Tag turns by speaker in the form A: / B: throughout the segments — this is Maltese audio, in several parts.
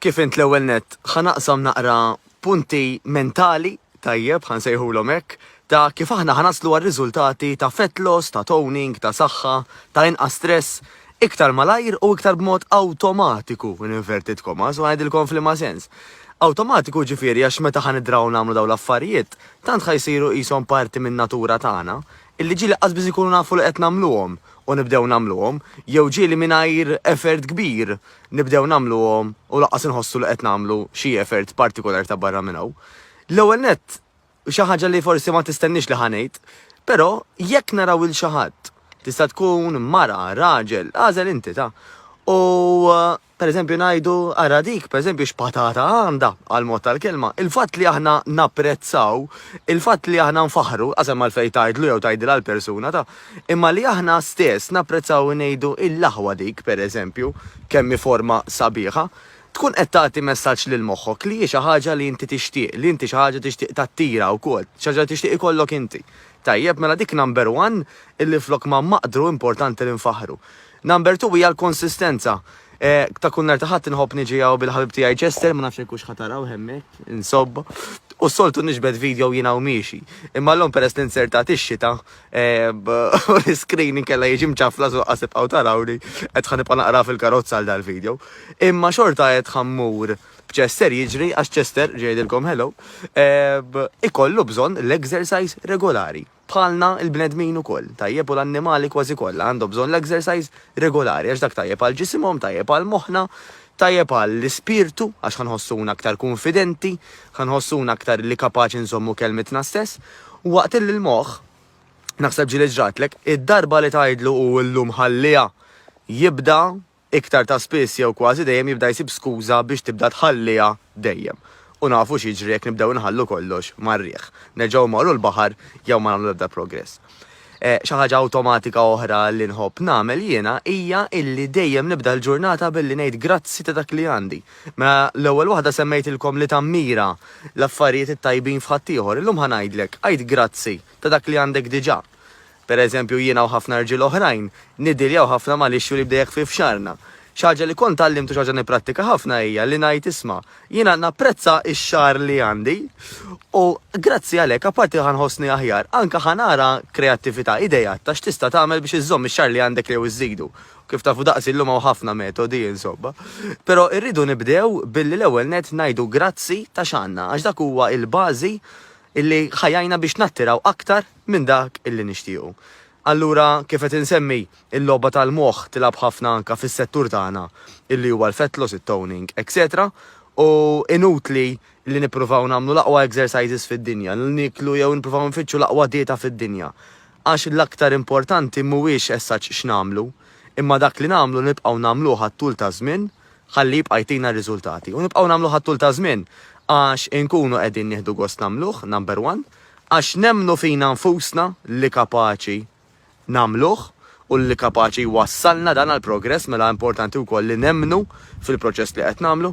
A: Kif int l-ewwel nett, ħa naqsam naqra punti mentali, tajjeb, ħa nsejħulhom hekk, ta' kif aħna ħa naslu għar-riżultati ta' fat loss, ta' toning, ta' saħħa, ta' inqas stress, iktar malajr u iktar b'mod awtomatiku, in inverted commas, u ħa ngħidilkom f'liema sens. Awtomatiku ġifieri għax meta ħa nidraw nagħmlu dawn l-affarijiet, tant ħa jsiru qishom parti min-natura tagħna, Illi ġieli qas biss inkunu nafu li qed nagħmluhom u nibdew nagħmluhom, jew ġieli mingħajr effort kbir nibdew nagħmluhom u lanqas inħossu li qed nagħmlu xi effort partikulari ta' barra minn hawn. L-ewwel nett, xi ħaġa li forsi ma tistenniex li ħa ngħid, però jekk naraw 'il xi ħadd, tista' tkun mara, raġel, agħżel inti ta', u Pereżempju ngħidu, ara dik, pereżempju x'patata għandha, għal mod tal-kelma. Il-fatt li aħna napprezzaw, il-fatt li aħna nfaħħru, qas hemm għalfejn tgħidlu jew tgħidilha l-persuna, ta. Imma li aħna stess napprezzaw u ngħidu il-laħwa dik, pereżempju, kemm hi forma sabiħa, tkun qed tagħti messaġġ lil moħħok li hi xi ħaġa li inti tixtieq, li inti xi ħaġa tixtieq tattira wkoll, xi ħaġa li tixtieq ikollok inti. Tajjeb, mela dik number one illi flok ma maqdru importanti li nfaħħru. Number two hija l-konsistenza. Ta' kull nhar ta' Ħadd inħobb niġi hawn bil-ħabib tiegħi Chester, ma nafx jekk hux ħa tarawh hemmhekk, insobb. U s-soltu niġbed video jien hawn miexi. Imma llum peress li nzertat ix-xita, l-iskrin inkella jiġi mċaflas u laqqas tibqgħu tarawni, qed ħa nibqa' naqra fil-karozza għal dal-video. Imma xorta qed ħa mmur b'Chester jiġri għax Chester, ġie jgħidilkom hello, ikollu bżonn l-exercise regolari. Bħalna, il-bnedmin ukoll, tajjeb u l-annimali kważi kollha, għandhom bżonn l-exercise regolari għax dak tajjeb għal ġisimhom, tajjeb għal moħħna, tajjeb għall-ispirtu għax ħa nħossuna aktar kunfidenti, ħa nħossuna aktar li kapaċi nżommu kelmitna stess. U waqt illi l-moħħ, naħseb ġieli ġratlek, id-darba li tgħidlu hu llum ħalliha jibda, iktar ta' spiss jew kważi dejjem jibda jsib skuża biex tibda tħalliha dejjem. U nafu x'jiġri jekk nibdew inħallu kollox mar-riħ. Nerġgħu mmorru l-baħar jew ma nagħmlu l-ebda progress. Xi ħaġa awtomatika oħra li nħobb nagħmel jiena hija illi dejjem nibda l-ġurnata billi ngħid grazzi ta' dak li għandi. Mela l-ewwel waħda semmejtilkom li tammira l-affarijiet it-tajbin f'ħaddieħor, illum ħa ngħidlek, għid grazzi ta' dak li għandek diġà. Per eżempju, jiena u ħafna rġiel oħrajn niddiljaw ħafna mal-issue li bdejek fi f'xagħarna. Xi ħaġa li kont tgħallimt u xi ħaġa nipprattika ħafna hija li ngħid isma', jiena napprezza x-xagħar li għandi u grazzi għalhekk apparti li ħa nħossni aħjar, anke ħa nara kreattività, ideat ta' x'tista' tagħmel biex iżżomm ix-xagħar li għandek jew iżżidu. U kif tafu daqsi llum hawn ħafna metodi, insomma. Però irridu nibdew billi l-ewwel nett ngħidu grazzi ta' x'għandna għax dak huwa l-bażi li ħa jgħinna biex nattiraw aktar minn dak li nixtiequ. Allura, kif qed insemmi, il-logħba tal-moħħ tilgħab ħafna anke fis-settur tagħna li huwa l-fat loss, it-toning, eċċetera U inutli li nippruvaw nagħmlu l-aqwa exercises fid-dinja, li nieklu jew nippruvaw nfittxu l-aqwa dieta fid-dinja. Għax l-aktar importanti mhuwiex as such x'nagħmlu, imma dak li nagħmlu li nibqgħu nagħmluh għat-tul taż-żmien ħalli jibqa' jtina r-riżultati. U nibqgħu nagħmluh għat-tul taż-żmien għax inkunu qegħdin nieħdu gost nagħmluh, number one, għax nemmnu fina nfusna li kapaċi nagħmluh u li kapaċi jwassalna dan għall-progress mela importanti wkoll li nemmnu fil-proċess li qed nagħmlu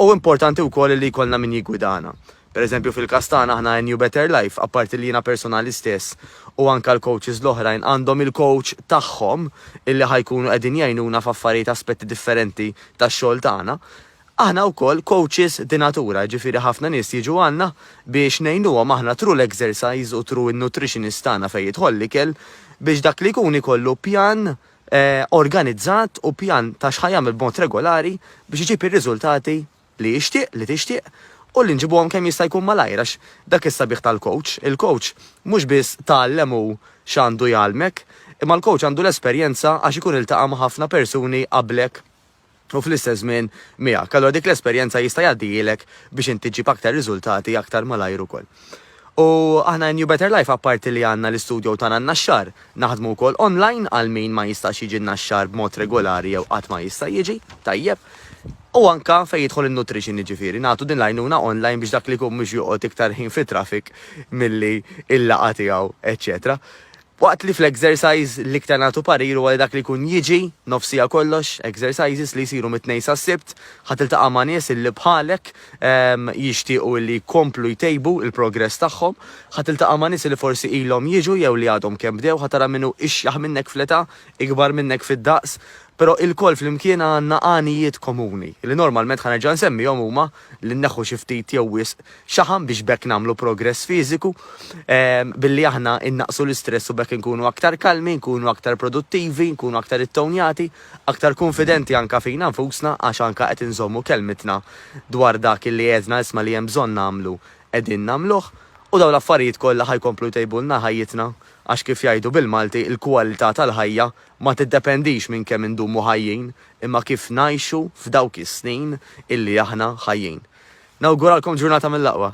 A: u importanti wkoll li jkollna min jiggwidana. Pereżempju fil-każ tagħna aħna NU Better Life apparti li jiena personali stess u anke l-coaches l-oħrajn għandhom il-coach tagħhom illi ħa jkunu qegħdin jgħinuna f'affarijiet aspetti differenti tax-xogħol tagħna, Aħna wkoll coaches di natura, jiġifieri ħafna nies jiġu għandna biex ngħinuhom aħna through l-exercise u through in-nutritionist tagħna fejn jidħol l-ikel biex dak li jkun ikollu pjan organizzat u pjan ta' x'ħa jagħmel b'mod regolari biex iġib ir-riżultati li jixtieq, li tixtieq u li nġibuhom kemm jista' jkun malajr għax dak is-sabiħ tal-coach. Il-coach mhux biss tgħallem hu x'għandu jgħallmek imma l-coach għandu l-esperjenza għax ikun iltaqa' ma' ħafna persuni qablek u fl-istess żmien miegħek, allura dik l-esperjenza jista' jgħaddihielek biex inti ġġib aktar riżultati aktar malajr ukoll. U aħna New Better Life apparti li għandna l-istudjow tagħna n-Naxxar, naħdmu wkoll online għal min ma jistax jiġi n-Naxxar b'mod regolari jew qatt ma jista' jiġi, tajjeb, u anke fejn jidħol in-nutrition jiġifieri nagħtu din l-għajnuna online biex dak li jkun mhux joqgħod iktar ħin fit-traffic milli l-laqgħa tiegħu eċċetera. Waqt li fl-exercise l-iktar nagħtu parir huwa li dak li jkun jiġi, nofsija kollox, exercises li jsiru mit-Tnejn sas-Sibt, ħa tiltaqa' ma' nies illi bħalek jixtiequ illi jkomplu jtejbu l-progress tagħhom, ħa tiltaqa' ma' nies illi forsi ilhom jiġu jew li għadhom kemm bdew, ħa tara min hu ixjaħ minnek fl-età, ikbar minnek fid-daqs, però ilkoll flimkien għandna għanijiet komuni, li normalment ħa nerġa' nsemmihom huma, li nneħħu xi ftit jew wisq xaħam biex b'hekk nagħmlu progress fiżiku billi aħna nnaqqsu l-istress u b'hekk inkunu aktar kalmi, nkunu aktar produttivi, nkunu aktar ittownjati, aktar kunfidenti anke fina nfusna għax anke qed inżommu kelmitna dwar dak illi għedna isma' li hemm bżonn nagħmlu qegħdin nagħmluh u dawn l-affarijiet kollha ħa jkomplu jtejbulna ħajjitna għax kif jgħidu bil-Malti l-kwalità tal-ħajja ma tiddependix minn kemm indumu ħajjin imma kif ngħixu f'dawk is-snin illi aħna ħajjin. Nawguralkom ġurnata mill-aqwa!